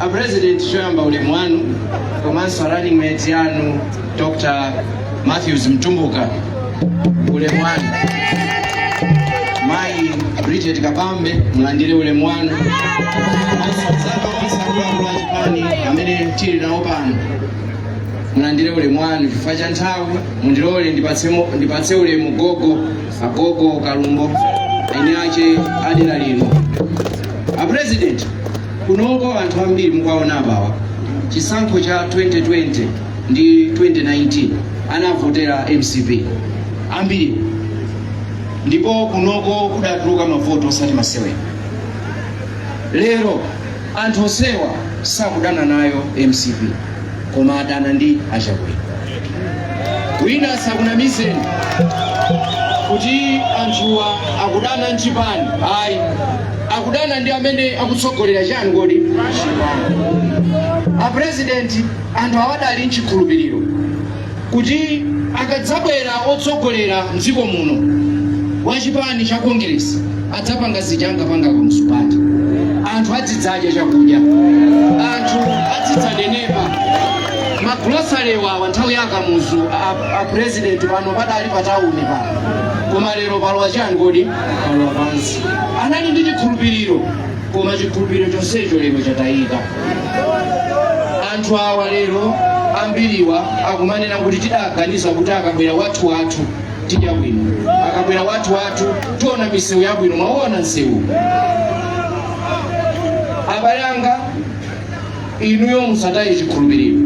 A President choyamba ulemu wanu komanso running mate anu Dr. Matthews Mtumbuka ulemu wanu. Mayi Bridget Kabambe mulandire ulemu wanu. Komanso mzaka onse akuluakulu a chipani amene tili nawo pano mulandire ulemu wanu chifukwa cha nthawi mundilole ndipatsemo- ndipatse ulemu gogo agogo kalumbo eni ache adera lino a president Kunoko anthu ambiri mukuwaona apawa chisankho cha 2020 ndi 2019 anavotera mcp ambiri ndipo kunoko kudatuluka mavoto osati masewera lero anthu onsewa sakudana nayo mcp koma adana ndi achakwera wina asakunamizeni kuti anthuwa akudana nchipani ayi akudana ndi amene akutsogolera chiyani kodi a president anthu awadali nchikhulupiriro kuti akadzabwera otsogolera mdziko muno wa chipani cha congress adzapanga zija angapanga Kamuzu kuti anthu adzidzadya chakudya anthu adzidzanenepa magolosale awa nthawi ya akamuzu a- a president pano padali patawuni pano koma lero palowa chiyani kodi palowa pansi anali ndi chikhulupiriro koma chikhulupiriro chonsecho lero chatayika anthu awa lero ambiriwa akumanena kuti tidaganiza kuti akabwera wathu wathu tidya bwino akabwera wathu wathu tiona misewu yabwino mwaona msewu abale anga inuyo musataye chikhulupiriro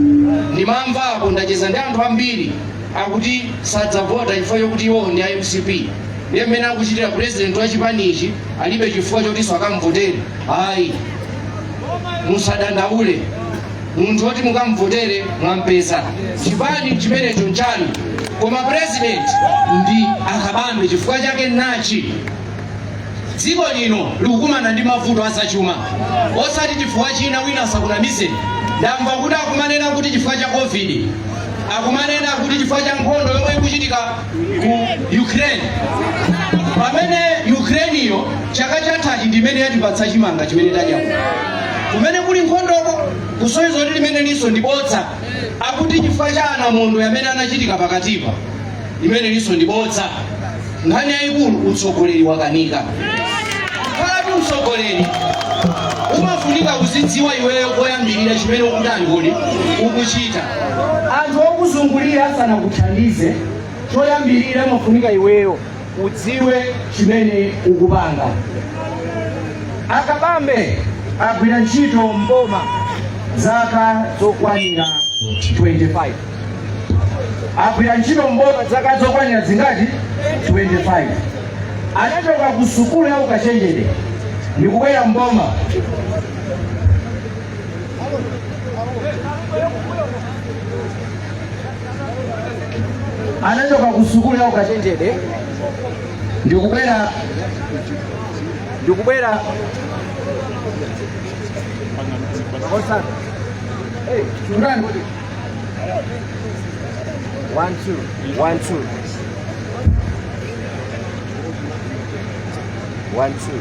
ndimamva apo ndacheza ndi anthu ambiri akuti sadzavota chifukwa chokuti iwowo ndi a mcp ndiye mmene akuchitira purezidenti wa chipanichi alibe chifukwa chotinso akamvotere ayi musadandaule munthu oti mukamvotere mwampeza chipani chimenecho nchanu koma president ndi akabambe chifukwa chake nachi dziko lino likukumana ndi mavuto azachuma osati chifukwa china wina asakunamize ndamva kuti akumanena kuti chifukwa cha covid akumanena kuti chifukwa cha nkhondo yomwe ikuchitika ku ukraine pamene ukrainiyo chaka chathachi ndimene yatipatsa chimanga chimene tadya kuno. kumene kuli nkhondoko kusonyeza kuti limenelinso ndi bodza akuti chifukwa cha anamondwe amene anachitika pakatipa limenelinso ndi bodza nkhani yayikulu utsogoleri wakanika kalanga utsogoleri umafunika kuzidziwa iweyo koyambirira chimene ukutani kodi ukuchita Anthu okuzungulira asanakuthandize, choyambirira amafunika iweyo udziwe chimene ukupanga. A Kabambe agwira ntchito m'boma zaka zokwanira 25. Agwira ntchito m'boma zaka zokwanira zingati? 25. Anachoka ku sukulu ya ukachenjede ndikubwera m'boma. anachoka ku sukulu ya ukachenjede ndikubwera ndikubwera Hey, chungani. One, two, one, two. One, two.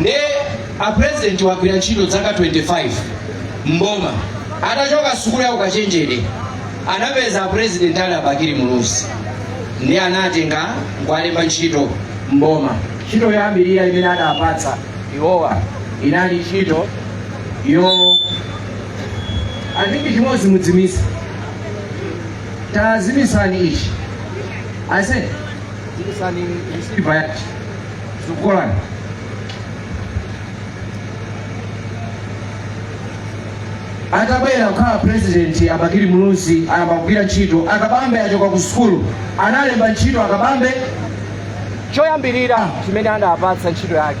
nde a president wagwira ntchito dzaka 25 mboma atachoka sukulu ya ukachenjede anapeza a president ali a Bakili Muluzi ndiye anatenga nkuwalemba ntchito mboma ntchito yoyambirira imene adapatsa iwowa inali ntchito yo andingi chimodzi mudzimitsa tazimitsani ichi ase zimitsani isiva yachi Shukrani. atabwera kukhala purezidenti a Bakili Muluzi ayamba kugwira ntchito a Kabambe achoka ku sukulu anawalemba ntchito a Kabambe choyambirira chimene anawapatsa ntchito yake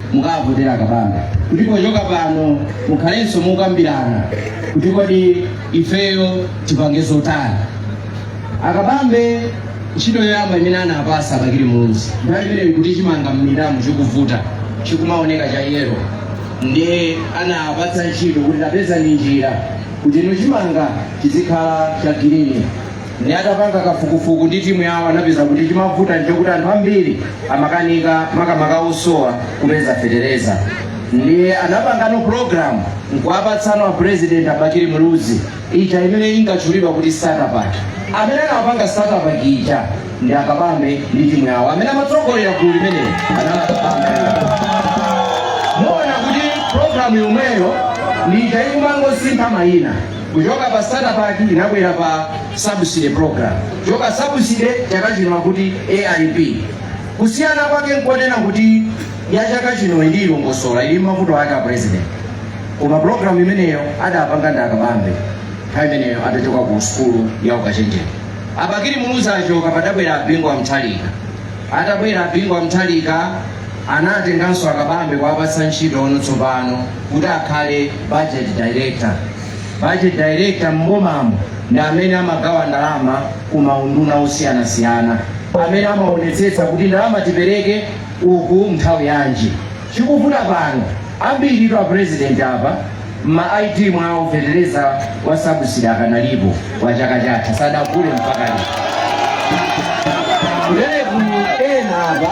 mukawavotera a Kabambe kuti pochoka pano mukhalenso mukukambirana kuti kodi ifeyo tipange zotani a Kabambe ntchito yoyamba imene anawapatsa Bakili Muluzi nthawi imeneyo kuti chimanga m'minda mu chikuvuta chikumaoneka cha yero ndiye anawapatsa ntchito kuti tapezani njira kuti ino chimanga chizikhala cha girini Ndi atapanga kafukufuku ndi team yawo anapeza kuti chimavuta nchokuti anthu ambiri amakanika makamaka osowa kupeza fetereza ndiye anapangano program nkuwapatsano a president a Bakili Muluzi ija imene inkatchulidwa kuti starter pack amene anapanga starter pack ija ndi a Kabambe ndi team yawo amene amatsogolera gulu limeneli ndi a Kabambe muona kuti program yomweyo ndi ija ikumangosintha mayina kuchoka pa starter pack inabwera pa subsidy program kuchoka subsidy chaka chino akuti AIP kusiyana kwake nkonena kuti ya chaka chino ili ilongosola ili mavuto ake a president koma program imeneyo adapanga ndi a Kabambe nthawi imeneyo adachoka ku sukulu ya ukachenjede a Bakili Muluzi achoka padabwera a Bingu a Mutharika atabwera a Bingu a Mutharika Anatenganso a Kabambe kuwapatsa ntchito no tsopano kuti akhale Budget Director. Budget Director m'bomamo ndi amene amagawa ndalama ku maunduna osiyanasiyana, amene amaonetsetsa kuti ndalama tipereke uku nthawi yanji. Chikuvuta pano ambiritu a President apa ma ID mwawo fetereza wa subsidy akanalipo wa chaka chatha sadagule mpaka lero kuleku ena apa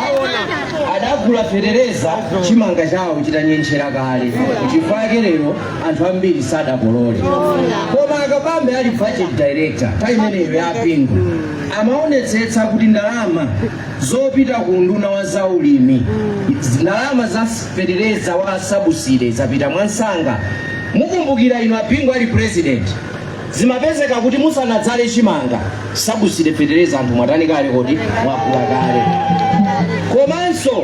adagula fetereza chimanga chawo chitanyentchera kale chifukwa chake lero anthu ambiri sadakolole koma akabambe ali budget director nthawi imeneyo ya a Bingu amaonetsetsa kuti ndalama zopita ku unduna wa zaulimi ndalama za fetereza wa sabuside zapita mwamsanga mukumbukira inu a Bingu ali president zimapezeka kuti musanadzale chimanga sabuside fetereza anthu mwatani kale kodi mwagula kale komanso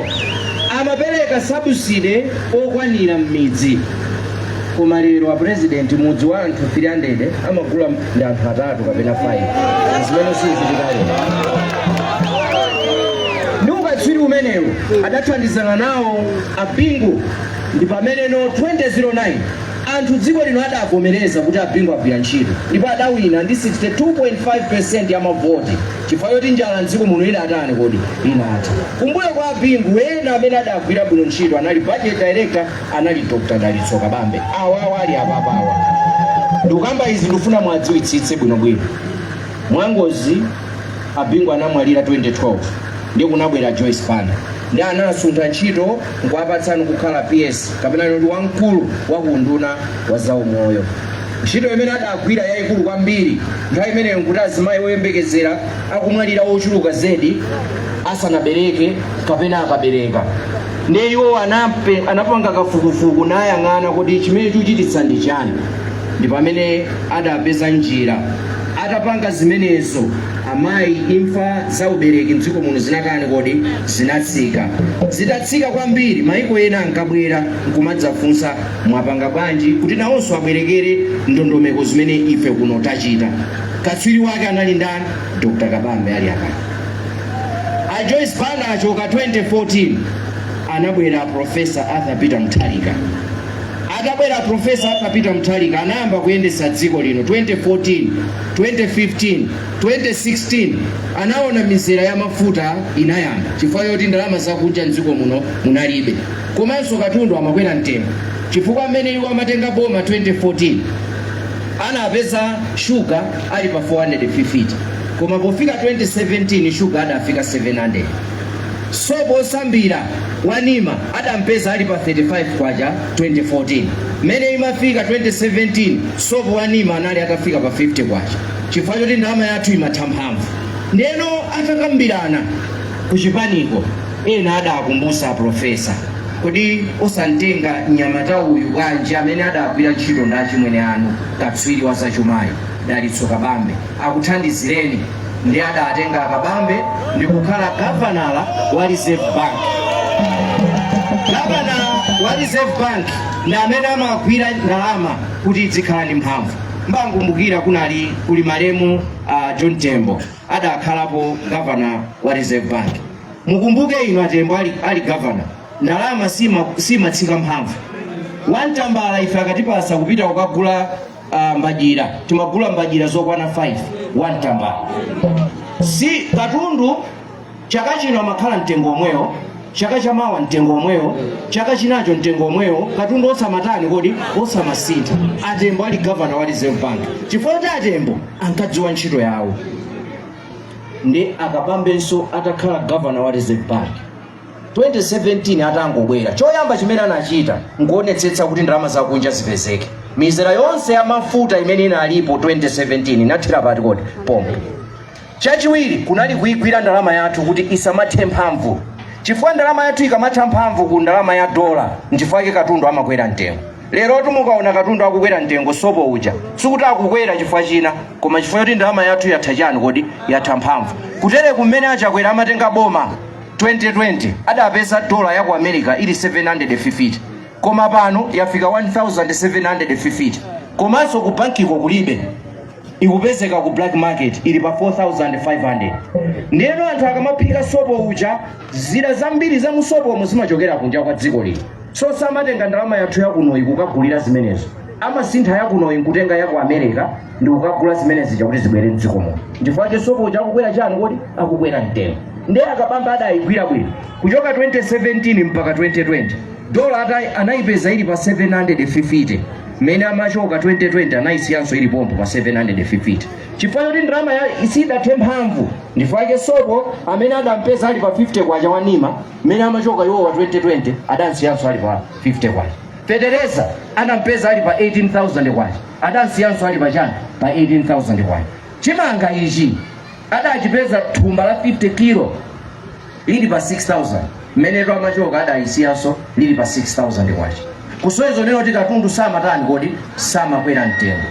amapereka sabuside okwanira m'midzi koma lero a president mudzi wa anthu 300 amagula ndi anthu atatu kapena 5 zimene sizichitika lero ndi ukatswiri umenewu adathandizana nawo a Bingu ndi pamene no 2009 anthu dziko lino adavomereza kuti a Bingu agwira ntchito ndipo adawina ndi 62.5 ya mavoti chifukwa choti njala mdziko muno idatani kodi inatha kumbuyo kwa a Bingu ena amene adagwira bwino ntchito anali budget director anali Dr. Dalitso Kabambe awawa ali apapawa ndikukamba izi ndikufuna muwadziwitsitse bwinobwino mwangozi a Bingu anamwalira 2012 ndiye kunabwera Joyce Banda ndiye anawasuntha ntchito nkuwapatsa no kukhala PS kapena kuti wamkulu wa ku unduna wa zaumoyo ntchito imene adagwira yayikulu kwambiri nthawi imeneyo nkuti azimayi oyembekezera akumwalira ochuluka zedi asanabereke kapena akabereka ndiye iwo anapanga kafukufuku nayang'ana kuti chimene chikuchititsa ndi chani ndi pamene adapeza njira atapanga zimenezo amayi imfa za ubereki mdziko muno zinatani kodi zinatsika zitatsika kwambiri maiko ena ankabwera nkumadzafunsa mwapanga bwanji kuti nawonso abwerekere ndondomeko zimene ife kuno tachita katswiri wake anali ndani dr kabambe ali apa a Joyce Banda achoka 2014 anabwera a Professor Arthur Peter Mutharika atabwera Professor Arthur Peter Mutharika anayamba kuyendetsa dziko lino 2014 2015 2016 anaona mizera ya mafuta inayamba chifukwa choti ndalama zakunja mdziko muno munalibe komanso katundu amakwera mtengo chifukwa mmene iwo amatenga boma 2014 anapeza shuga ali pa 450 koma pofika 2017 shuga adafika 700 sopo osambira wa nima adampeza ali pa 35 kwacha 2014 mmene imafika 2017 sopo wa nima anali atafika pa 50 kwacha chifukwa choti ndalama yathu imatha mphamvu ndeno atakambirana kuchipaniko ena adakumbusa profesa kodi osamtenga mnyamata uyu bwanji amene adagwira ntchito ndi achimwene anu katswiri wa zachumayi dalitso kabambe akuthandizireni ndiye adatenga akabambe ndikukhala gavanala wa reserve bank gavanala wa reserve bank ndi amene amagwira ndalama kuti idzikhala ndi mphamvu mbakumbukira kunali kuli malemu uh, john tembo adakhalapo gavanala wa reserve bank mukumbuke inu atembo ali, ali gavanala ndalama simatsika sima mphamvu one tambala ife akatipasa kupita kukagula uh, mbadyira timagula mbadyira zokwana 5 one tambala si katundu chaka chino amakhala mtengo omwewo chaka chamawa mtengo omwewo chaka chinacho mtengo omwewo katundu osamatani kodi osamasintha atembo ali gavanala wa reserve bank chifukwa choti atembo ankadziwa ntchito yawo ndi akabambenso atakhala gavanala wa reserve bank 2017 atangobwera choyamba chimene anachita nkuonetsetsa kuti ndalama zakunja zipezeke mizera yonse ya mafuta imene inalipo 2017 inathera pati kodi pompo chachiwiri kunali kuigwira ndalama yathu kuti isamathe mphamvu chifukwa ndalama yathu ikamatha mphamvu ku ndalama ya dola nchifukwa chake katundu amakwera mtengo lerotu mukaona katundu akukwera mtengo sopo uja sikuti akukwera chifukwa cha china koma chifukwa choti ndalama yathu yatha chani kodi yatha mphamvu kutere kumene achakwera amatenga boma 2020 adapeza dollar ya ku america ili 750 koma pano yafika 1750 komanso ku bankiko kulibe ikupezeka ku black market ili pa 4500 ndiyeno anthu akamaphika sopo uja zida zambiri za mu sopomo zimachokera kunja kwa dziko lino so samatenga ndalama yathu yakunoyi kukagulira zimenezo amasintha yakunoyi nkutenga yaku america ndikukagula zimene zija kuti zibwere mdziko muno chifukwa chake sopo uja akukwera chani kodi akukwera mtengo ndiye akabambe adayigwira bwino kuchoka 2017 mpaka 2020 dola ata- anayipeza ili pa 750 mmene amachoka 2020 anayisiyanso ili pompo pa 750 chifukwa choti ndalama ya- sidathe mphamvu ndifukwa chake sopo amene adampeza ali pa 50 kwacha wa nima mmene amachoka iwowa 2020 adamsiyanso ali pa 50 kwacha fetereza anampeza ali pa 18000 kwacha adamsiyanso ali pa chani pa 18000 kwacha chimanga ichi adachipeza thumba la 50 kilo lili pa 6000 mmeneno amachoka adayisiyanso lili pa 6000 kwacha kusonyeza kunena kuti katundu samatani kodi samakwera mtengo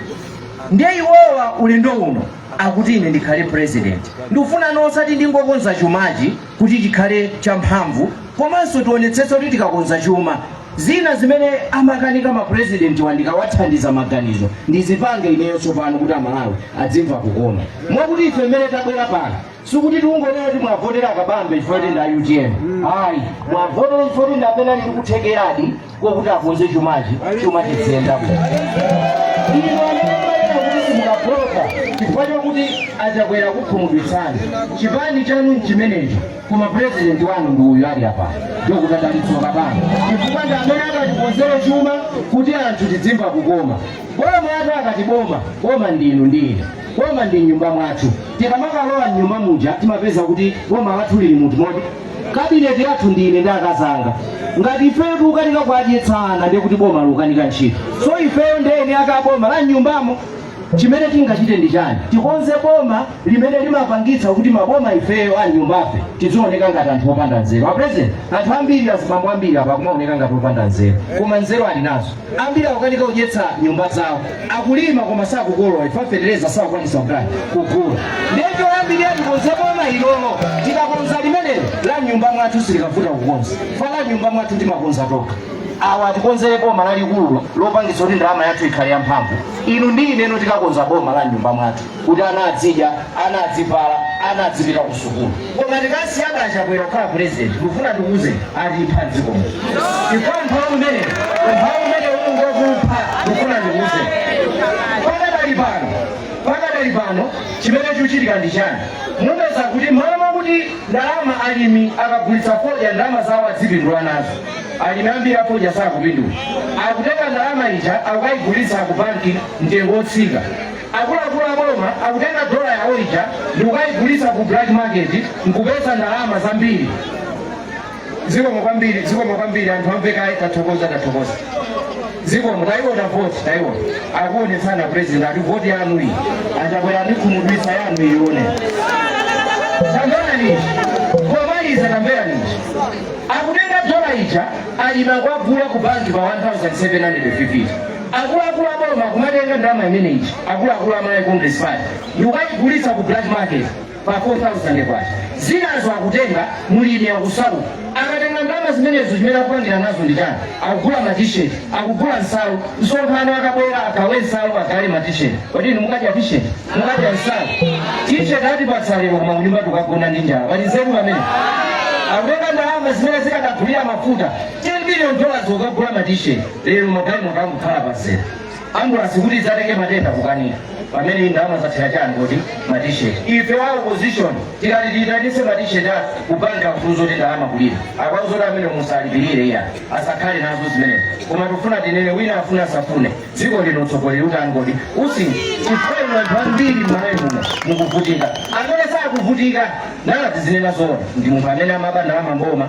ndiye iwowa ulendo uno akuti ine ndikhale president ndikufuna nosati ndingokonza chumachi kuti chikhale champhamvu komanso tionetsetse kuti tikakonza chuma zina zimene amakanika mapurezidentiwa ndikawathandiza maganizo ndizipange ineyo tsopano kuti amalawi adzimva kukoma mwakuti ife mmene tabwera pano sikuti tikungonena kuti muwavotere kabambe chifukwa kuti ndi a utm ayi muwavotere chifukwa kuti ndi amene ali ndikuthekeradi kuti akonze chumachi chuma chiziyenda bwino inu amene kuti simukavota chifukwa chakuti a chakwera akukhumudwitsani chipani chanu nchimenecho koma purezidenti wanu ndi uyu ali apa dokotala dalitso kabambe chifukwa ndi amene akatikonzere chuma kuti anthu tidzimva kukoma boma ati akati boma boma ndi inu ndi ine boma ndi mnyumba mwathu tikamakalowa mnyumba muja timapeza kuti boma lathu lili muti moti kabineti yathu ndi ine ndi akazi anga ngati ifeyo tikukanika kuadyetsa ana ndiye kuti boma likukanika ntchito so ifeyo ndi eni ake aboma la mnyumbamo chimene tingachite ndi chani tikonze boma limene limapangitsa kuti maboma ifeyo a mnyumbafe tizioneka ngati anthu opanda nzeru a president anthu ambiri azibambo ambiri apa akumaoneka ngati opanda nzeru koma nzeru ali nazo ambiri akukanika kudyetsa nyumba zawo akulima koma sakukolola chifukwa fetereza sakukwanitsa chani kugula ndiye choyambirira tikonze boma ilolo tikakonza limenelo la mnyumba mwathu silikavuta kukonza chifukwa la mnyumba mwathu timakonza tokha awa atikonzere boma lalikululo lopangitsa kuti ndalama yathu ikhale yamphamvu inu ndi ineno tikakonze boma la mnyumba mwathu kuti ana adzidya ana adzivala ana adzipita ku sukulu koma tikasiya a chakwera kukhala purezidenti ndikufuna ndikuuze atipha mdziko muno chifukwa umphawi umenewu umphawi umenewu ukungokupha ndikufuna ndikuuze pakadali pano pakadali pano chimene chikuchitika ndi chani mupeza kuti mmalo mwakuti ndalama alimi akagulitsa fodya ndalama zawo adzipindula nazo alimi ambiri afodya sakupindula akutenga ndalama ija akukayigulitsa ku banki mtengo wotsika Akuluakulu a boma akutenga dola yawo ija ndikukayigulitsa ku black market nkupeza ndalama zambiri. Zikomo kwambiri, zikomo kwambiri anthu amve kaye tathokoza tathokoza. Zikomo tayiona voti tayiona. Akuonetsana president ati voti yanu iyi. A Chakwera atikhumudwitsa yanu ione. Sangana nini? Komaliza tambera nini? Akutenga dola ija alimi akuwagula ku banki pa 1750. Akuluakulu a boma kumatenga ndalama imene ija akuluakulu a Malawi Congress Party ndikukayigulitsa ku black market pa K4000. Zinazo akutenga mulimi akusauka. Akatenga ndalama zimenezo chimene akupangira nazo ndi chani? Akugula ma t-shirt, akugula nsalu. Msonkhano akabwera agawe nsalu agawe ma t-shirt. Kodi inu mukadya t-shirt? Mukadya nsalu? T-shirt atipatsa lero koma kunyumba tukagona ndi njala. Pali nzeru pamene? Akutenga ndalama zimene zikadagulira mafuta 10 million dollars kukagula matisheti lero magalimoto angokhala pamzera ambulansi kuti idzatenge matenda kukanika pamene ndalama zathera chani kuti matisheti ife wa opposition tikati tiyitanitse matisheti kupanga mfunzo kuti ndalama kulira akwazoti amene musalipirire iya asakhale nazo zimenezo koma tifuna tinene wina afuna asafune dziko lino utsogoleri utangoti usi chifukwa anthu ambiri mmalawi muno mukuvutika amene sakuvutika nawo tizinena zoona ndi munthu amene amaba ndalama mboma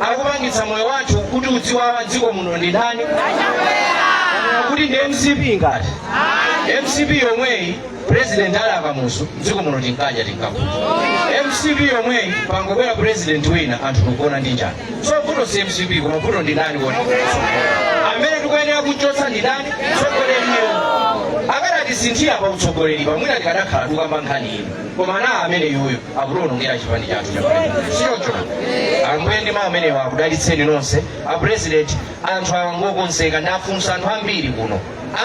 akupangitsa moyo wathu kuti udziwawa dziko muno ndi ndani kuti ndi mcp ngati mcp yomweyi president ali a kamuzu dziko muno tinkadya tinkakuta mcp yomweyi pangobwera president wina anthu tikugona ndi njala so vuto si mcp koma vuto ndi ndani kodi amene tikuyenera kuchotsa ndi ndani tsogoleriyo akadatisinthira pa utsogoleri mwina tikadakhala tukamba nkhani ino koma ndi amene uyuyu akutionongera chipani chathu si choncho ambuye ndi mawu amenewa akudalitseni nonse apresident anthu awa ngokonzeka ndafunsa anthu ambiri kuno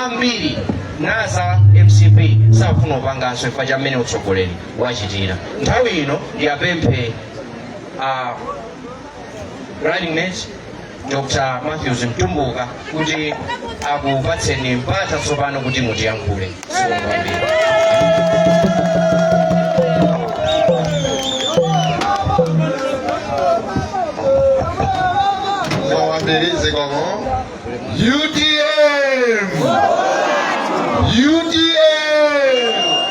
ambiri za mcp sakufuna kupanganso chifukwa cha mmene utsogoleri wachitira nthawi ino ndiwapemphe a running mate Dr. Matthews Mtumbuka kuti akupatseni mpata tsopano kuti mutiyankhule. Zikomo kwambiri. Mwawambiri zikomo. UTM! UTM!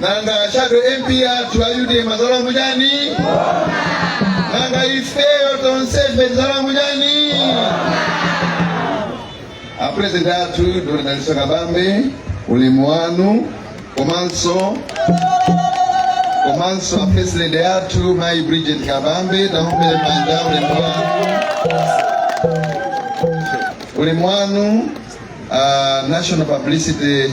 nanga shadow mp athu a utm azalowa chani nanga ifeyo tonsefe tizalowa chani apurezidenti athu dr dalitso kabambe ulemu wanu komanso komanso apurezidenti athu mayi bridget kabambe tamuombere manja ulemu wanu ulemu wanu ah, national publicity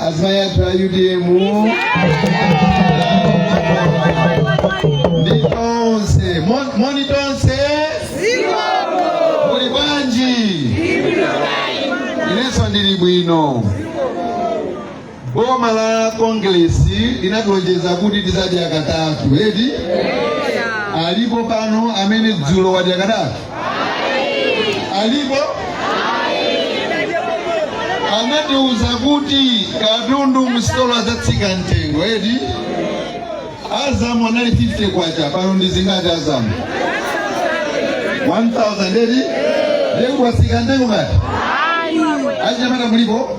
azimayi athu a utm ndi tonse Mon- moni tonse muli bwanji inenso ndili bwino boma la kongresi linatilonjeza kuti tizadya katatu kodi alipo pano amene dzulo wadya katatu alipo anatiuza kuti katundu msitolo adzatsika mtengo eti azamu anali 50 kwacha pano ndi zingati azamu 1000 eti ndiye kuti watsika mtengo ngati achinyamata mulipo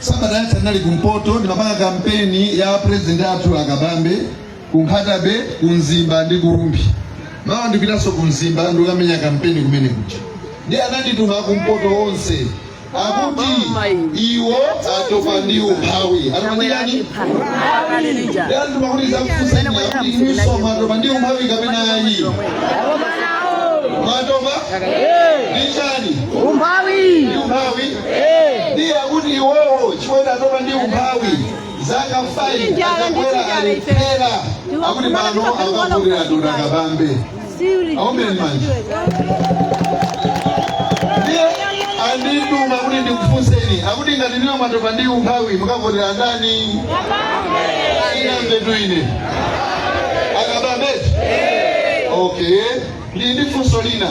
sabata yatha ndinali kumpoto ndimapanga kampeni ya purezidenti athu a kabambe ku nkhata bay ku mzimba ndi ku rumphi mawa ndikupitanso ku mzimba ndikukamenya kampeni kumene kuja ndiye anandituma kumpoto onse akuti iwo atopa ndi umphawi atopa ndi chani ndiye andituma kuti ndizakufunseni akuti inuso mwatopa ndi umphawi kapena ayi mwatopa ndi chani umphawi ndi umphawi ndiye akuti iwowo chifukwa atopa ndi umphawi zaka 5 a chakwera alephera akuti pano akavotera dr kabambe aombeni manja ndiye andituma kuti ndikufunseni akuti ngati ndinu mwatopa ndi umphawi mukavotera ndani sindinamvetu ine a kabambetu okay ndili ndi funso lina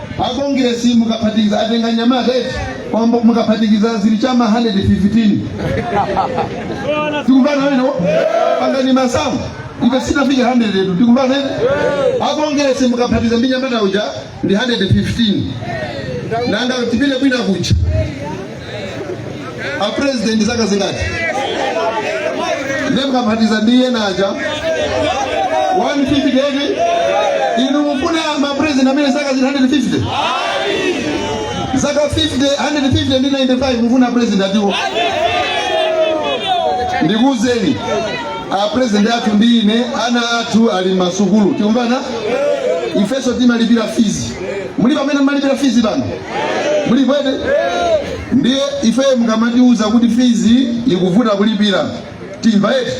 akongiresi mukaphatikiza atenga mnyamata eti komabe mukaphatikiza zili chama 115 tikumvana bwino pangani masamu ife sitinafike 100 yetu tikumvana eti akongiresi mukaphatikiza ndi mnyamata uja ndi 115 nanga tipite kwina kuja a president zaka zingati nde mukaphatikiza ndi ena aja 150 eti inu mufuna ma president amene zaka zili 150 zaka 50 150 ndi 95 mufuna president atiwo ndikuuzeni a president athu ndi ine ana athu ali mmasukulu tikumvana ifeso timalipira fizi mulipo amene mmalipira fizi pano mulipo eti ndiye ifeyo mukamatiuza kuti fizi ikuvuta kulipira timva eti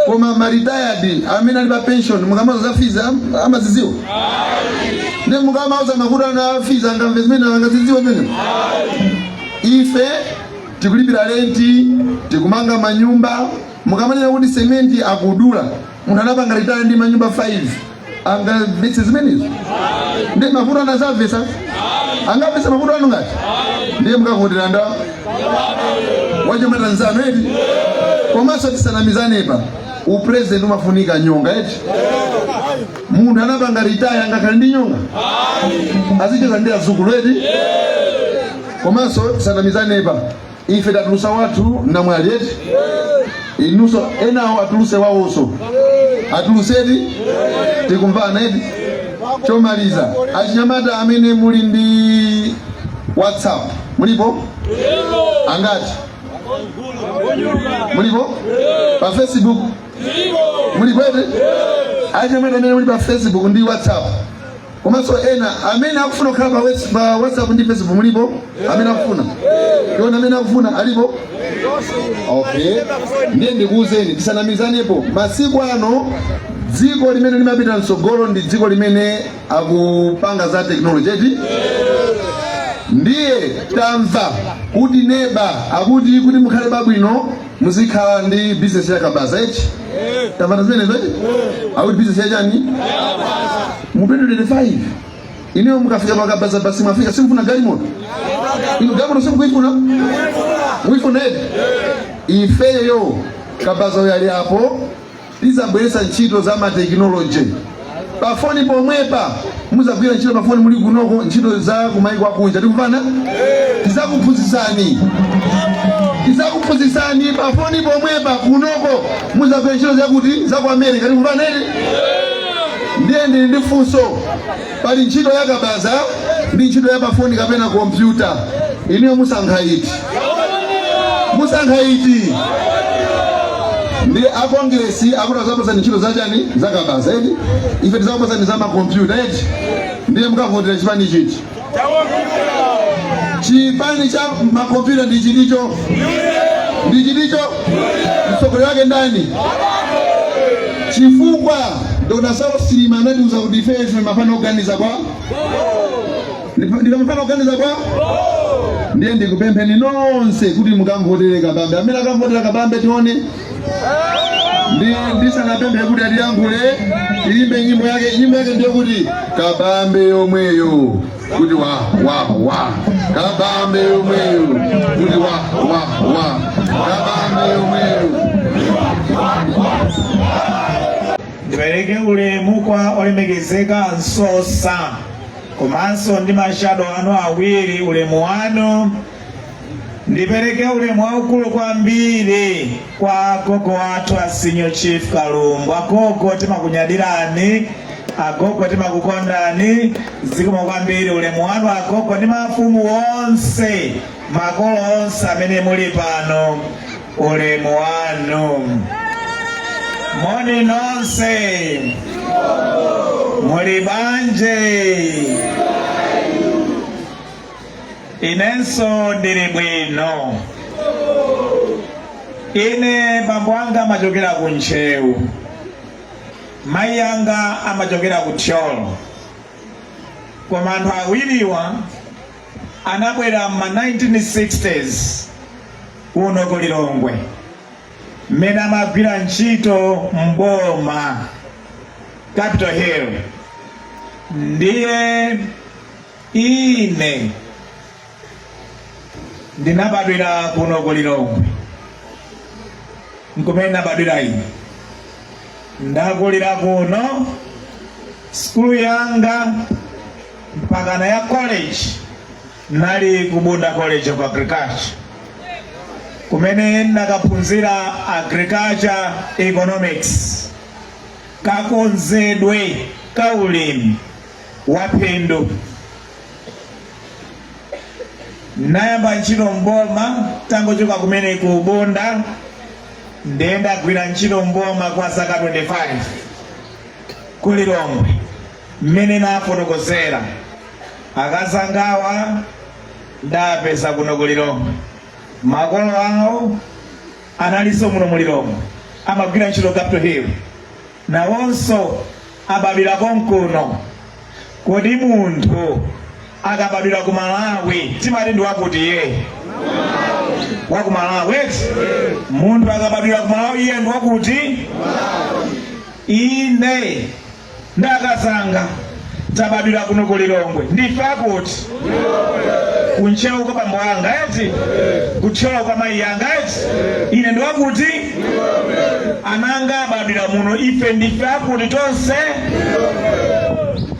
koma maritayadi amene ali pa pension mukamauza za fizi am- amazidziwa ndiye mukamauza mavuto anu a fizi angamve zimene angazidziwe zimene ife tikulipira renti tikumanga manyumba mukamanena kuti sementi akudula munthu anapanga ritaya ndi manyumba 5 angamvetse zimenezo ndiye mavuto anu azamvetsa angamvetse mavuto anu ngati ndiye mukavotera ndani wachinyamata nzanu eti komanso tisanamizanepa upresident umafunika nyonga eti munthu anapanga ritaya angakhale ndi nyonga azicheza ndi azukulu eti komanso tisanamizanepa ife tatulusa wathu namwali eti inuso enawo atuluse wawonso atulusedi tikumvana eti chomaliza achinyamata amene muli ndi whatsapp mulipo angati mulipo pa facebook mulipo eti achinyamata amene muli pa facebook ndi whatsapp komanso ena amene akufuna kukhala pa wes- pa whatsapp ndi facebook mulipo amene akufuna tione amene akufuna alipo okay ndiye ndikuwuzeni tisanamizanepo masiku ano dziko limene limapita mtsogolo ndi dziko limene akupanga za teknoloji eti ndiye tamva kuti neba akuti kuti mukhale pabwino muzikhala ndi business ya kabaza eti tamvana zimenezo eti akuti business ya chani mu 2025 inuyo mukafika pakabaza basi mwafika simufuna galimoto inu galimoto simukuifuna muifuna eti ifeyo kabaza uyo ali apo tidzabweretsa ntchito za matekinoloje pafoni pomwepa muzagwira ntchito pafoni muli kunoko ntchito za kumaiko akunja tikumvana tizakuphunzitsani tizakuphunzitsani pafoni pomwepa kunoko muzagwira ntchito zakuti za ku america tikumvana eti ndiye ndili ndi funso pali ntchito ya kabaza ndi ntchito ya pafoni kapena kompyuta inuyo musankha iti musankha iti ndi akongiresi akuti azakupasani ntchito zachani zakabaza eti ife tizakupasani za makompyuta eti ndiye mukavotera chipani chiti chipani cha makompyuta ndi chiticho ndi chiticho mtsogoleri wake ndani chifukwa dr saulos chilima anatiuza kuti ife ife mafana oganiza bho ndinu mafana oganiza bho ndiye ndikupempheni nonse kuti mukamvotere kabambe amene akamvotera kabambe tione ndisanapemphe kuti atiyankhule tiyimbe nyimbo yake nyimbo yake ndiyo kuti kabambe yomweyo kuti wa wa wa kabambe yomweyo kuti wa wa wa kabambe yomweyo ndipereke ulemu kwa olemekezeka msosa komanso ndi mashado anu awiri ulemu wanu Ndipereke ulemu waukulu kwambiri kwa agogo athu a Senior Chief Kalumbu. Agogo timakunyadirani, agogo timakukondani, zikomo kwambiri ulemu wanu agogo ndi mafumu onse, makolo onse amene muli pano, ulemu wanu. Moni nonse, muli bwanji. Inenso ndili bwino. Ine bambo anga amachokera ku Ntcheu, mayi anga amachokera ku Thyolo, koma anthu awiriwa anabwera m'ma 1960s kuno ku Lilongwe mmene amagwira ntchito m'boma Capital Hill ndiye Ine ndinabadwira kuno ku Lilongwe, nkumene ndabadwira ine, ndakulira kuno, sukulu yanga mpakana ya college nali ku Bunda College of Agriculture kumene ndakaphunzira agriculture economics kakonzedwe ka ulimi waphindu nayamba ntchito mboma tangochoka kumene ku bunda ndiye ndagwira ntchito mboma kwa zaka 25 ku lilongwe mmene nafotokozera akazangawa ndawapeza kuno ku lilongwe makolo awo analinso muno mu lilongwe amagwira ntchito capital hill nawonso abadwira konkuno. Kodi munthu akabadwira ku Malawi timati ndi wakuti ye wa ku Malawi eti? Munthu akabadwira ku Malawi iye ndi wakuti? Ine ndakazanga tabadwira kuno ku lilongwe ndife akuti kuntcheu kwa bambo anga eti ku thyolo kwa mayi anga eti ine ndiwakuti ananga abadwira muno ife ndife akuti tonse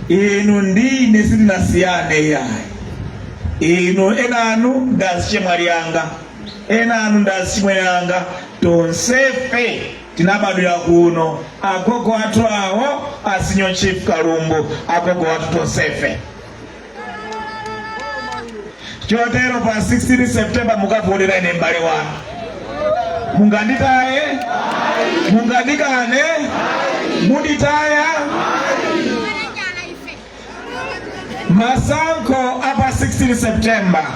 inu ndine sitinasiyane yayi inu enanu ndazichemwali anga enanu ndazichimwene anga tonsefe Tinabadwira kuno, agogo athu awo a Senior Chief Kalumbu, agogo athu tonsefe. Chotero pa 16 September mukavotera ine m'bale wanu. Munganditaye? Mungandikane? Munditaya? masankho apa 16 september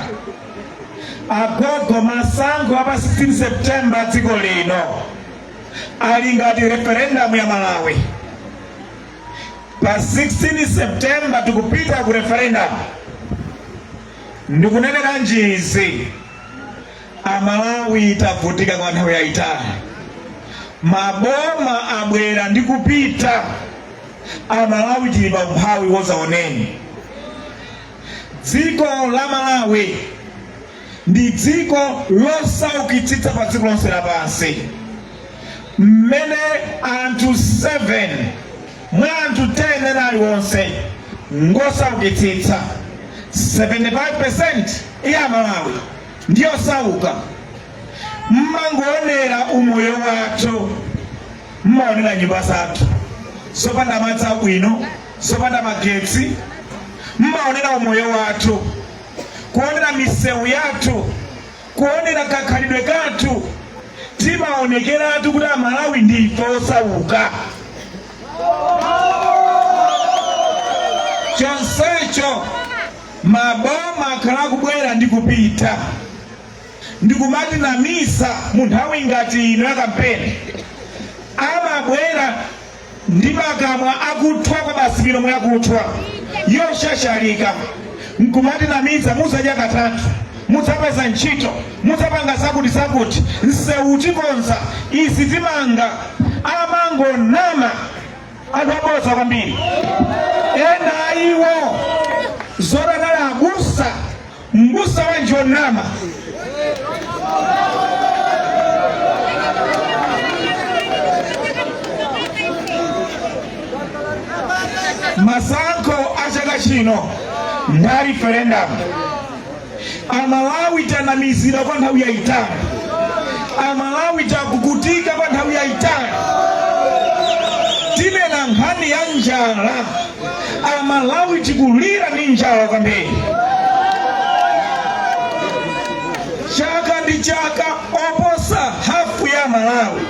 agogo masankho apa 16 september dziko lino ali ngati referendum ya malawi pa 16 september tikupita ku referendum ndikunenera n'izi Amalawi tavutika kwa nthawi yayitali, maboma abwera ndi kupita, Amalawi tili pa umphawi wadzaoneni. Dziko la Malawi ndi dziko losaukitsitsa pa dziko lonse lapansi, mmene anthu 7 mwa anthu 10 ena aliwonse ngosaukitsitsa, 75% ya Amalawi. ndi osauka mmangoonera umoyo wathu mmaonera nyumba zathu zopanda madzi abwino zopanda magetsi mmaonera umoyo wathu kuonera misewu yathu kuonera kakhalidwe kathu timaonekeratu kuti amalawi ndife osauka chonsecho Maboma akhala akubwera ndi kupita ndikumatinamiza mu nthawi ngati ino ya kampeni. Amabwera ndi makamwa akuthwa kwabasi milomo yakuthwa yoshashalika nkumatinamiza mudzadya katatu, mudzapeza ntchito, mudzapanga zakuti zakuti, nsewu tikonza, izi timanga. Amangonama. anthu abodza kwambiri ena ayiwo zoti anali abusa mbusa wanji wonama masankho a chaka chino ndi a referendamu amalawi tanamizidwa kwa nthawi yayitali amalawi takukutika kwa nthawi yayitali tinena nkhani ya njala amalawi tikulira ndi njala kwambiri chaka ndi chaka oposa hafu ya amalawi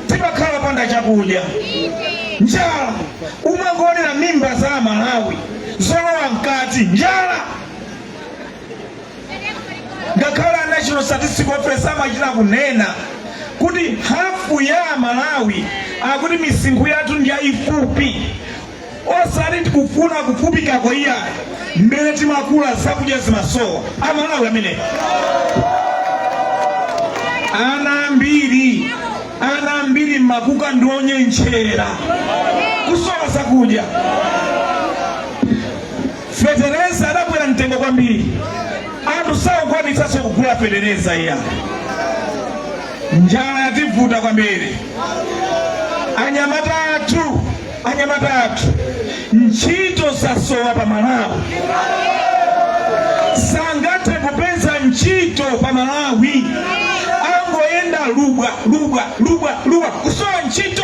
timakhala panda chakudya njala umangoonera mimba za amalawi zolowa mkati njala ngakhale a national statistic office amachita kunena kuti hafu ya amalawi akuti misinkhu yathu ndi yayifupi osati tikufuna kufupikako iya mmene timakula zakudya zimasowa amalawi amene ana ambiri ana ambiri mmakuka ndi onyentchera kusowa zakudya Fetereza adakwera mtengo kwambiri, anthu sakukwanitsanso kugula fetereza iya. Njala yativuta kwambiri. Anyamata athu, anyamata athu, ntchito zasowa pa Malawi, sangathe kupeza ntchito pa Malawi, angoyenda lubwa lubwa lubwa lubwa kusowa ntchito.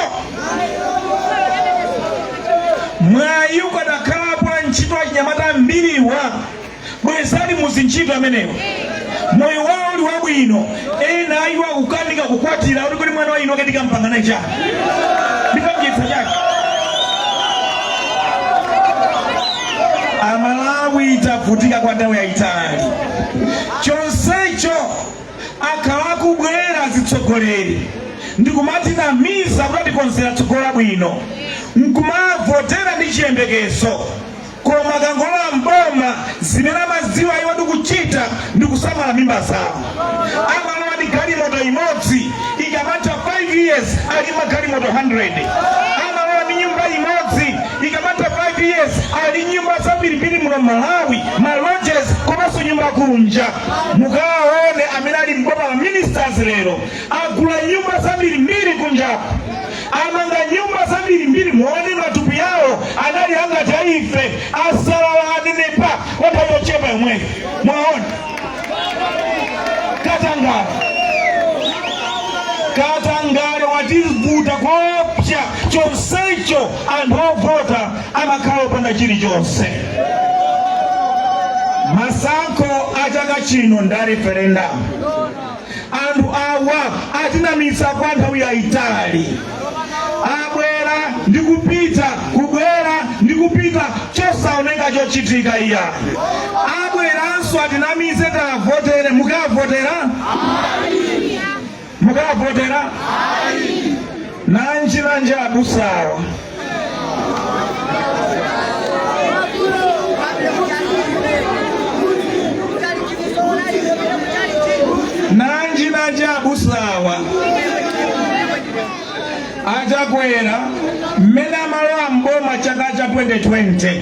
mwayi ukadakhalapo wa ntchito achinyamata ambiriwa bwezi ali muzintchito amenewa moyo wawo uli wabwino ena a ife kukanika kukwatira uli kuti mwamva inu keti ka mpanga nacho chani ndikam'dyetsa chani amalawi tavutika kwa nthawi yayitali chonsecho akhala akubwera azitsogoleri ndikumatinamiza kuti atikonzera tsogolo labwino nkumavotera ndi chiyembekezo koma akangolowa m'boma zimene amadziwa iwo ndikuchita ndikusamala mimba zawo amalowa ndi galimoto imodzi ikamatha 5 years ali magalimoto 100 amalowa ndi nyumba imodzi ikamatha 5 years ali nyumba zambirimbiri muno malawi malodges komanso nyumba kunja mukawaone amene ali m'boma ma ministers lero agula nyumba zambirimbiri kunjaku amanga nyumba zambirimbiri muone matupi awo anali angati a ife asalala anenepa kwa nthawi yochepa yomweyo mwaona katangale katangale wativuta koopsya chonsecho anthu ovota amakhala opanda chilichonse masankho a chaka chino nda referendum anthu awa atinamiza kwa nthawi yayitali abwera ndi kupita kubwera ndi kupita chosaoneka chochitika iya abweranso atinamize tavotere mukavotera mukawavotera nanji nanji abusawa nanji nanji abusawa achakwera mmene amalowa mboma chaka cha 2020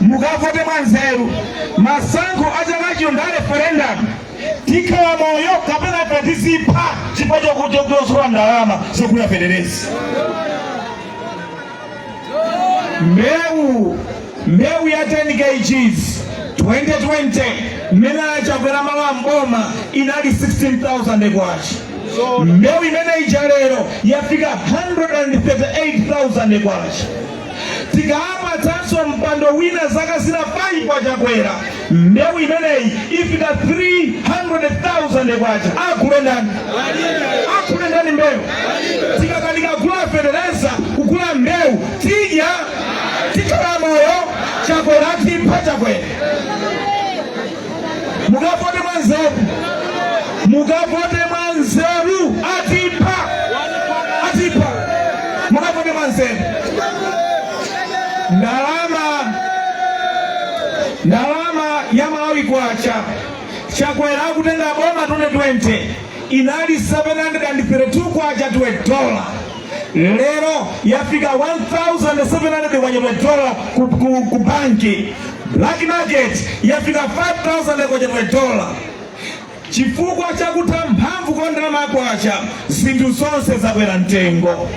mukavote mwa nzeru masankho a chaka chino nda referendum tikhala moyo kapena ife tizipha chifukwa chokuti tikusowa ndalama zogula fetereza mbewu ya 10 kgs 2020 mmene achakwera amalowa mboma inali 16000 kwacha mbewu imene ija lero yafika 138000 kwacha tikawapatsanso mpando wina zaka zina 5 a chakwera mbewu imeneyi ifika 300,000 kwacha agule ndani agule ndani mbewu tikakanika kugula fetereza kugula mbewu tidya tikhala moyo chakwera atipha chakwera mukavote mwanzeru mukavote mwanzeru atipha atipha mukavote mwanzeru ndalama ndalama ya malawi kwacha chakwera akutenga boma 2020 inali 732 kwacha to one dollar lero yafika 1700 kwa one dollar ku, ku, ku banki black market yafika 5000 kwa one dollar chifukwa cha kutha mphamvu kwa ndalama kwacha zinthu zonse zakwera mtengo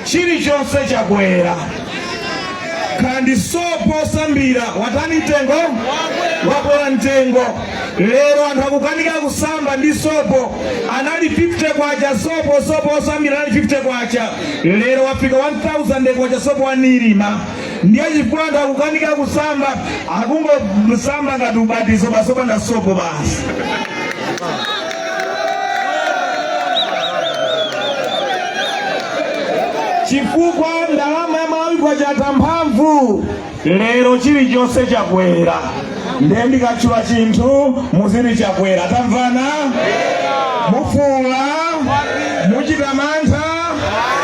chilichonse chakwera kaya ndi sopo osambira watani mtengo wakwera mtengo lero anthu akukanika kusamba ndi sopo anali 50 kwacha sopo sopo osambira anali 50 kwacha lero wafika 1000 kwacha sopo wa nirma ndiye chifukwa anthu akukanika kusamba akungosamba ngati ubatizo baso opanda sopo basi chifukwa ndalama ya malawi kwacha yatha mphamvu lero chilichonse chakwera ndiye ndikatchula chinthu muziti chakwera tamvana mufuula muchita mantha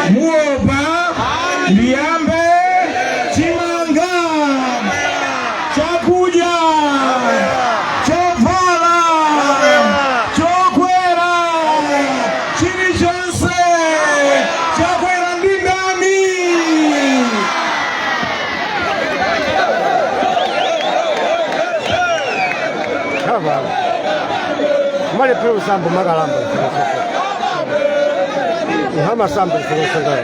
muopa ndiyambe chakudya, chovala, chokwera, chilichonse chakwera ndi ndani? mali pelo sambo makalamba ihama sambo zilosangana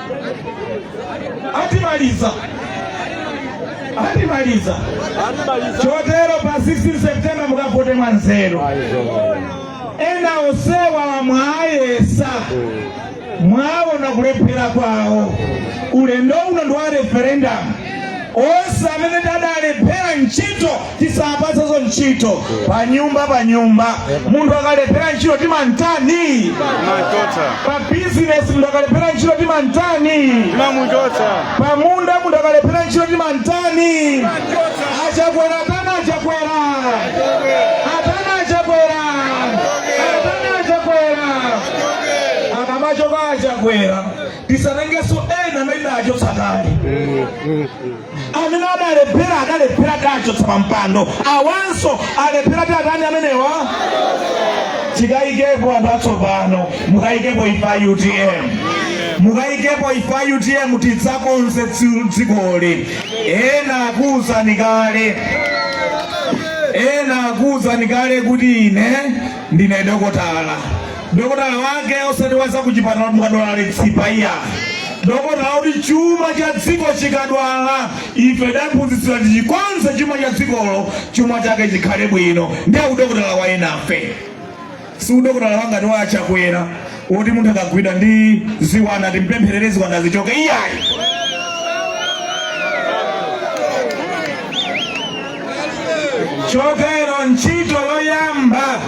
atimaliza atimaliza chotero pa 16 september mukavote mwanzeru ena onsewa mwayesa mwaona kulephera kwawo ulendo uno ndi wa referendum onse amene tadalephera ntchito tisapatsenso ntchito pa nyumba pa nyumba munthu akalephera ntchito timantani pa bizinesi munthu akalephera ntchito timantani pa munda munthu akalephera ntchito timantani achakwera atani achakwera atani achakwera atani achakwera akamachoka achakwera tisatengenso ena amene tidachotsa kale amene adalephera adalephera tidachotsa pa mpando awanso alephera tiwatani amenewa tikayikepo anthu atsopano mukayikepo ife a utm mukayikepo ife a utm tidzakonze dzikoli ena akuwuzani kale ena akuwuzani kale kuti ine ndine dokotala dokotala wake osati wa zakuchipatala mukadwala litsipa iya dokotala woti chuma cha dziko chikadwala ife taphunzitsidwa tichikonze chuma cha dzikolo chuma chake chikhale bwino ndiye udokotala wa enafe si udokotala wangati wa achakwera woti munthu akagwidwa ndi ziwanda timpempherere ziwanda zichoke iyayi chotero ntchito yoyamba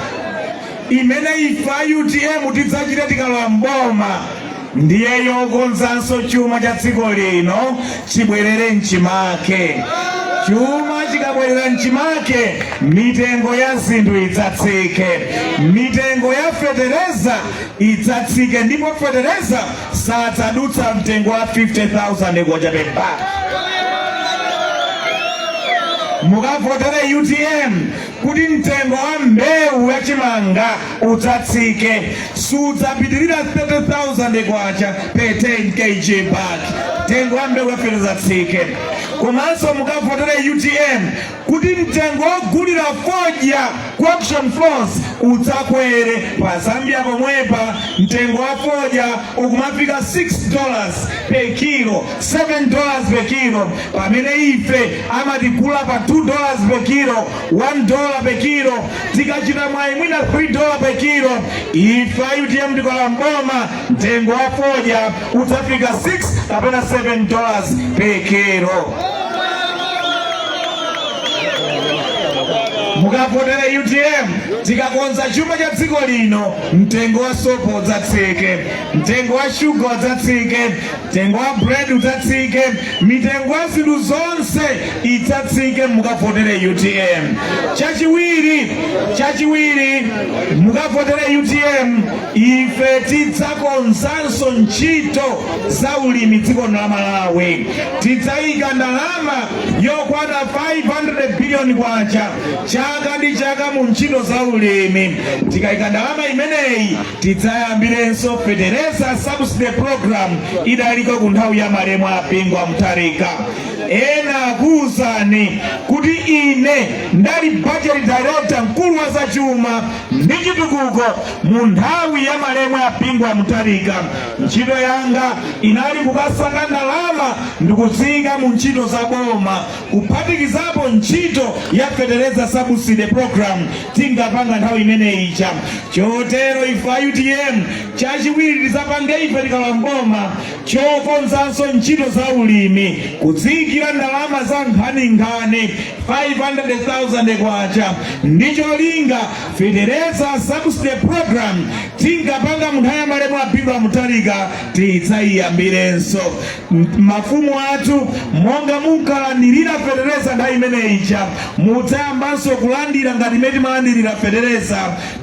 imene ife a utm tidzachite tikalowa m'boma ndiye yokonzanso chuma cha dziko lino chibwerere mchimake chuma chikabwerera mchimake mitengo ya zinthu idzatsike mitengo ya fetereza idzatsike ndipo fetereza sadzadutsa mtengo wa 50000 kwacha per bag mukavotere utm kuti mtengo wa mbewu ya chimanga udzatsike sudzapitirira 30,000 kwacha per 10 kg bag mtengo wa mbewu ya fodya udzatsike komanso mukavotere utm kuti mtengo wogulira fodya ku auction floors udzakwere pa zambia pomwepa mtengo wa fodya ukumafika 6 dollars per kilo 7 dollars per kilo pamene ife amatigula pa 2 dollars per kilo 1 dollar per kilo tikachita mwayi mwina 3 dollar per kilo ife a utm tikalowa mboma mtengo wa fodya udzafika 6 kapena 7 dollars per kilo mukavotere utm tikakonza chuma cha dziko lino mtengo wa sopo udzatsike mtengo wa shuga udzatsike Mtengo wa bread udzatsike, mitengo ya zinthu zonse idzatsike, mukavotere UTM. Chachiwiri mukavotere UTM, ife tidzakonzanso ntchito za ulimi dziko la Malawi, tidzayika ndalama yokwana 500 billion kwacha chaka ndi chaka mu ntchito za ulimi. Tikayika ndalama imeneyi tidzayambirenso fetereza subsidy program idaliko ku nthawi ya malemu a bingu wa mutharika ena akuwuzani kuti ine ndali budget director mkulu wa zachuma ndi chitukuko mu nthawi ya malemu a bingu wa mutharika ntchito yanga inali kukasaka ndalama ndikuziika mu ntchito za boma kuphatikizapo ntchito ya fetereza subsidy program tinkapanga nthawi imene ija chotero ife a utm chachiwiri tizapange ife tikalowa mboma chokonzanso ntchito za ulimi kudziyikira ndalama za nkhaninkhani 500,000 kwacha ndi cholinga fetereza subsidy program tinkapanga munthawi ya malemu a bingu wa mutharika tidzayiyambirenso mafumu athu monga munkalandirira fetereza nthawi imene ija mudzayambanso kulandira ngati imene timalandirira fetereza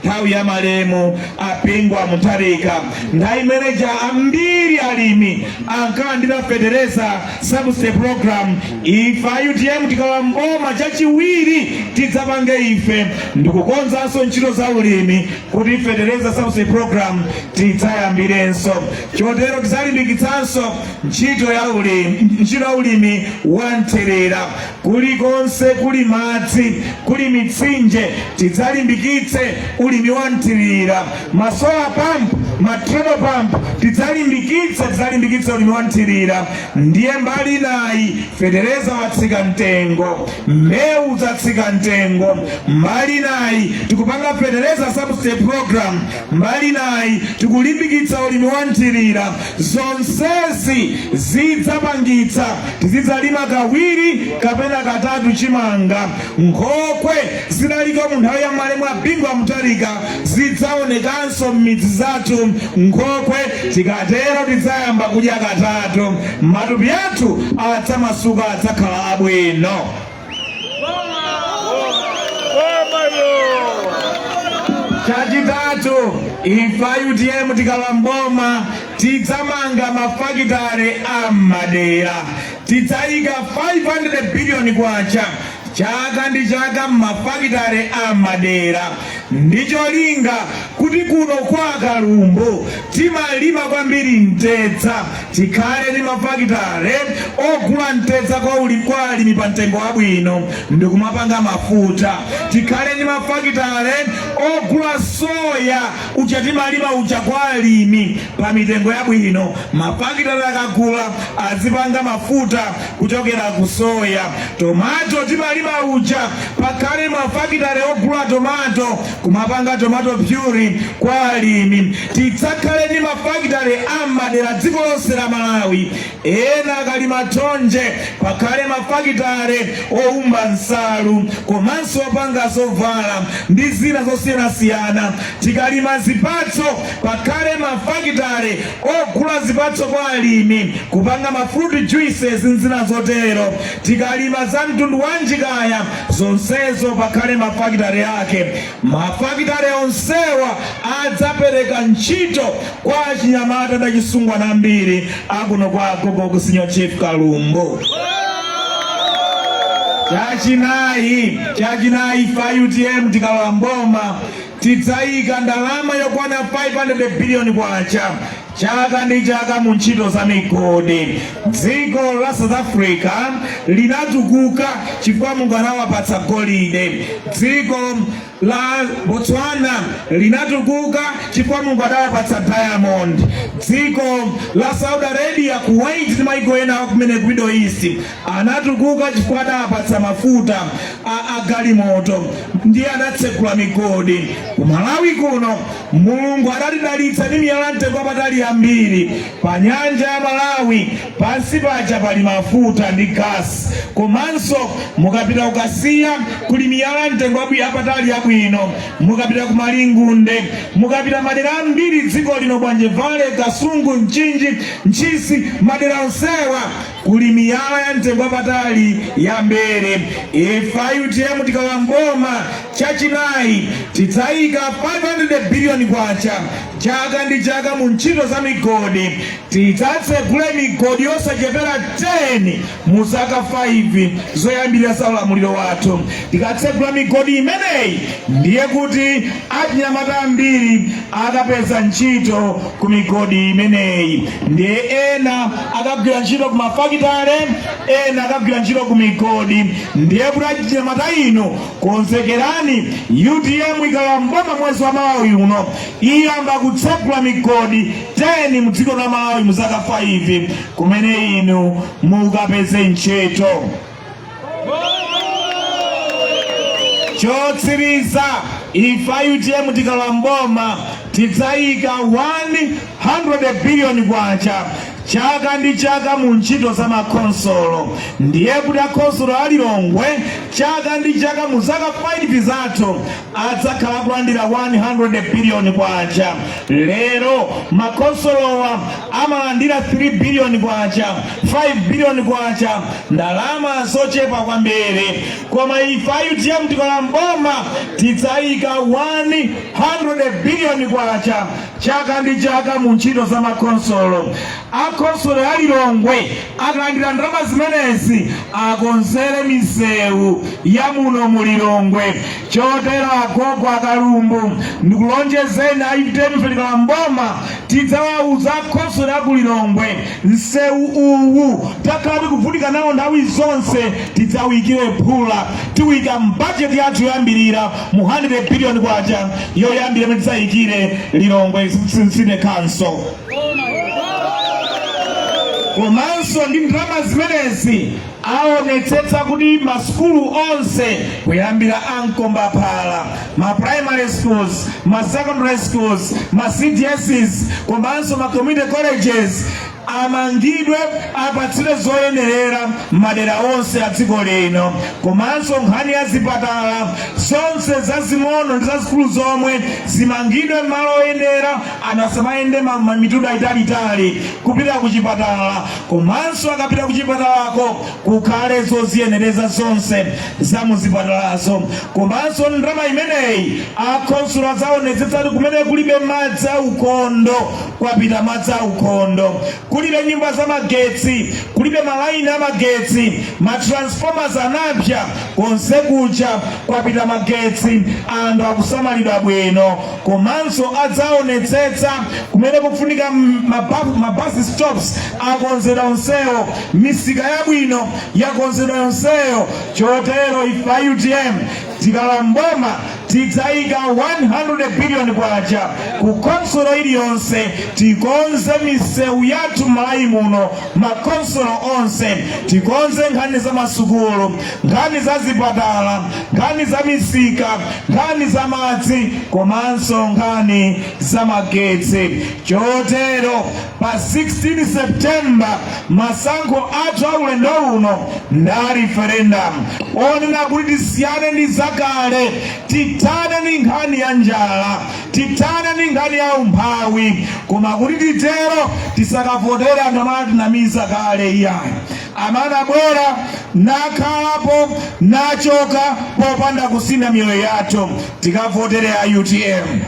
nthawi ya malemu a bingu wa mutharika nthawi imene ija ambiri alimi ankalandira fetereza subsidy program ife a utm tikalowa mboma chachiwiri tidzapange ife ndikukonzanso ntchito za ulimi kuti fetereza subsidy program tidzayambirenso Chotero tidzalimbikitsanso ntchito ya ulimi wa nthirira. Kulikonse kuli madzi, kuli mitsinje, tidzalimbikitse ulimi wa nthirira. Masola pampu, matrebo pampu, tidzalimbikitse, tidzalimbikitse ulimi wa nthirira. Ndiye mbali nayi, fetereza watsika mtengo, mbewu zatsika mtengo. Mbali nayi tikupanga fetereza subsidy program Mbali inayi tikulimbikitsa ulimi wa nthirira. Zonsezi zidzapangitsa tizidzalima kawiri kapena katatu chimanga. Nkhokwe zidaliko mu nthawi ya malemu a Bingu wa Mutharika zidzaonekanso m'midzi zathu. Nkhokwe tikatero tidzayamba kudya katatu. Matupi athu adzamasuka, adzakhala abwino. chachitatu ife a utm tikalowa mboma tidzamanga mafakitale a m'madera tidzayika 500 biliyoni kwacha chaka ndi chaka m'mafakitale a madera ndi cholinga kuti kuno kwa kalumbu timalima kwambiri mtedza Tikhale ndi mafakitale ogula mtedza kwa alimi pa mtengo wabwino ndikumapanga mafuta. Tikhale ndi mafakitale ogula soya uja timalima uja kwa alimi pa mitengo yabwino. Mafakitale akagula azipanga mafuta kuchokera ku soya. Tomato timalima uja pakhale mafakitale ogula tomato kumapanga tomato pyuri kwa alimi. Tidzakhale ndi ma fakitale a m'madera dziko lonse la Malawi, ena akalima thonje pakhale ma fakitale owumba nsalu komanso opanga zovala ndi zina zosiyanasiyana. Tikalima zipatso pakhale ma fakitale ogula zipatso kwa alimi kupanga ma fruit juices ndi zina zotero. Tikalima za mtundu wanji kaya zonsezo pakhale ma fakitale ake. Mafakitale onsewa adzapereka ntchito kwa achinyamata ndi achisungwana ambiri akuno kwa agogo ku Senior Chief Kalumbu. Chachinayi, chachinayi ife a UTM tikalowa mboma tidzayika ndalama yokwana 500 billion kwacha Chaka ndi chaka mu ntchito za migodi, dziko la South Africa linatukuka chifukwa Mulungu anawapatsa golide. Dziko la Botswana linatukuka chifukwa Mulungu anawapatsa diamond. Dziko la Saudi Arabia, Kuwait ndi maiko ena kumene ku Middle East anatukuka chifukwa anawapatsa mafuta a galimoto ndiye anatsegula migodi. Ku Malawi kuno Mulungu adatidalitsa ndi miyala ya mtengo wapatali yambiri pa nyanja ya Malawi. Pansi paja pali mafuta ndi gasi, komanso mukapita ku Kasiya kuli miyala ya mtengo wapatali yabwino. Mukapita ku Malingunde, mukapita madera ambiri dziko lino, Bwanje Valley, Kasungu, Mchinji, Ntchisi, madera onsewa kuli miyala ya mtengo wapatali yambiri ife a UTM tikalowa mboma chachinayi tidzayika 500 biliyoni kwacha chaka ndi chaka mu ntchito za migodi tidzatsegule migodi yosachepera 10 mu zaka 5 zoyambirira za ulamuliro wathu tikatsegula migodi imeneyi ndiye kuti achinyamata ambiri akapeza ntchito ku migodi imeneyi ndiye ena akagwira ntchito ku mafakitale ena akagwira ntchito ku migodi ndiye kuti achinyamata inu konzekerani UTM ikalowa mboma mwezi wamawa uno iyamba kutsegula migodi 10 mu dziko la Malawi mu zaka 5 kumene inu mukapeze ntchito chotsiriza ife a utm tikalowa mboma tidzayika 100 biliyoni kwacha chaka ndi chaka mu ntchito za makhonsolo ndiye kuti akhonsolo a lilongwe chaka ndi chaka mu zaka 5 zathu adzakhala akulandira 100 biliyoni kwacha lero makhonsolowa amalandira 3 biliyoni kwacha 5 biliyoni kwacha ndalama zochepa kwambiri koma ife a utm tikalowa mboma tidzayika 100 biliyoni kwacha chaka ndi chaka mu ntchito za makhonsolo Akhonsolo a Lilongwe akalandira ndalama zimenezi akonzere misewu ya muno mu Lilongwe. Chotero agogo a Kalumbu ndikulonjezeni a utm tikalowa m'boma tidzawauza akhonsolo a ku Lilongwe msewu uwu takhala tikuvutika nawo nthawi zonse tidzawuyikire phula tiwuyika mbajeti yathu yoyambirira mu 100 billion kwacha yoyambira imene tidzayikire Lilongwe City Council. komanso ndi ndalama zimenezi aonetsetsa kuti masukulu onse kuyambira a mkombaphala ma primary schools ma secondary schools ma cdss komanso ma community colleges amangidwe apatsidwe zoyenerera m'madera onse a dziko lino komanso nkhani ya zipatala zonse zazing'ono ndi zazikulu zomwe zimangidwe m'malo oyenera ana asamayende ma- ma- mitunda italiitali kupita ku chipatala komanso akapita ku chipatalako kukhale zoziyenereza zonse za muzipatalazo komanso ndalama imeneyi akhonsolo adzaonetsetsa kuti kumene kulibe madzi a ukhondo kwapita madzi a ukhondo Kulibe nyumba za magetsi, kulibe malaini a magetsi, ma transformers anapsa, konse kuja kwapita magetsi, anthu akusamalidwa bwino, komanso adzaonetsetsa kumene kufunika ma bus stops akonzedwa onsewo, misika yabwino yakonzedwa yonseyo. Chotero ife a utm Tikalowa m'boma tidzaika K100 billion ku khonsolo iliyonse tikonze misewu yathu m'Malawi muno, makhonsolo onse tikonze nkhani za masukulu, nkhani za zipatala, nkhani za misika, nkhani za madzi komanso nkhani za magetsi chotero Pa 16 September masankho athu a ulendo uno ndi a referendum onena kuti tisiyane ndi zakale, tithane ndi nkhani ya njala, tithane ndi nkhani ya umphawi. Koma kuti titero tisakavotere anthu amene anatinamiza kale iyayi, amene anabwera nakhalapo nachoka popanda kusintha miyoyo yathu. Tikavotere a utm.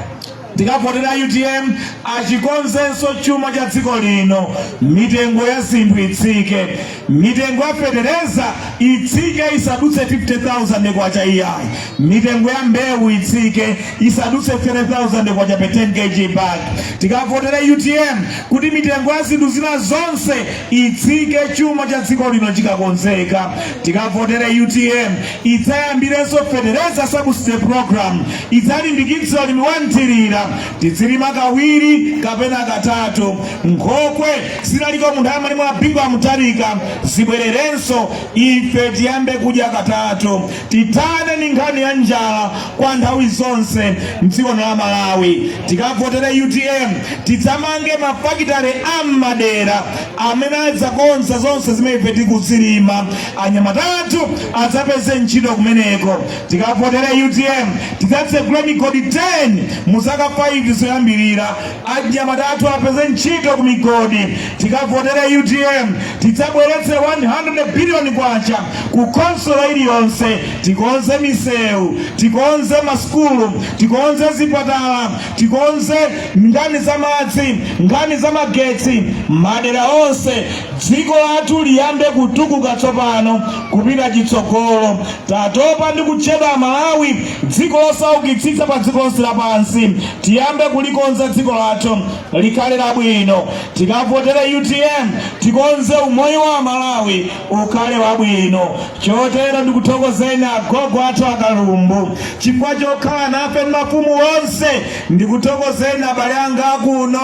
tikavotere utm achikonzenso chuma cha dziko lino mitengo ya zinthu itsike mitengo ya fetereza itsike isadutse 50000 kwacha iyayi mitengo ya mbewu itsike isadutse 3000 kwacha per 10 kg bag tikavotere utm kuti mitengo ya zinthu zina zonse itsike chuma cha dziko lino chikakonzeka tikavotera utm idzayambirenso fetereza subsidy program idzalimbikitsa ulimi wa mthirira. Tidzilima kawiri kapena katatu. Nkhokwe zinaliko munthawi ya Bingu wa Mutharika zibwererenso, ife tiyambe kudya katatu. Tithane ndi nkhani ya njala kwa nthawi zonse mdziko la Malawi. Tikavotere utm tidzamange mafakitale a m'madera amene adzakonza zonse zimene ife tikuzilima. Anyamata athu adzapeze ntchito kumeneko. Tikavotera utm tidzatsegula migodi 10 mu zaka 5 zoyambirira. Anyamata athu apeze ntchito ku migodi. Tikavotera utm tidzabweretse 100 billion kwacha ku khonsolo iliyonse. Tikonze misewu, tikonze masukulu, tikonze zipatala, tikonze nkhani za madzi, nkhani za magetsi madera onse. Dziko lathu liyambe kutukuka tsopano. Kupita chitsogolo, Tatopa ndi kutchedwa Malawi dziko losaukitsitsa pa dziko lonse lapansi. Tiyambe kulikonza dziko lathu likhale labwino. Tikavotere utm tikonze umoyo wa Amalawi ukhale wabwino. Chotero ndikuthokozeni agogo athu a Kalumbu chifukwa chokhala nafe ndi mafumu onse. Ndikuthokozeni abale anga akuno,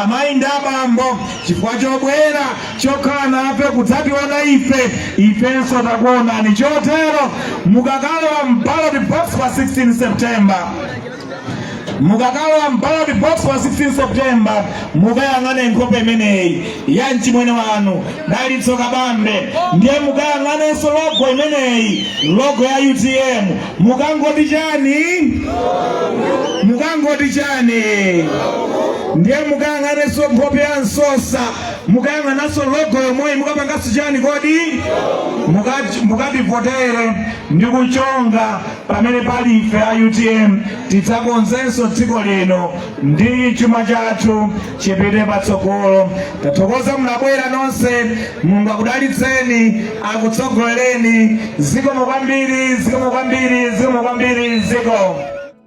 amayi ndi abambo chifukwa chobwera. chokhala nafe kudzationa ife ifenso takuonani chotero mukakalowa mballot box pa 16 september mukakalowa mballot box pa 16 september mukayang'ane nkhope imeneyi ya mchimwene wanu dalitso kabambe ndiye mukayang'anenso logo imeneyi logo ya utm mukangoti chani mukangoti chani ndiye mukayang'anenso nkhope ya msosa mukayang'ananso logo yomweyi mukapanganso chani kodi mukativotere ndi kuchonga pamene pali ife a utm tidzakonzenso dziko lino ndi chuma chathu chipite patsogolo tathokoza munabwera nonse mulungu akudalitseni akutsogolereni zikomo kwambiri zikomo kwambiri zikomo kwambiri zikomo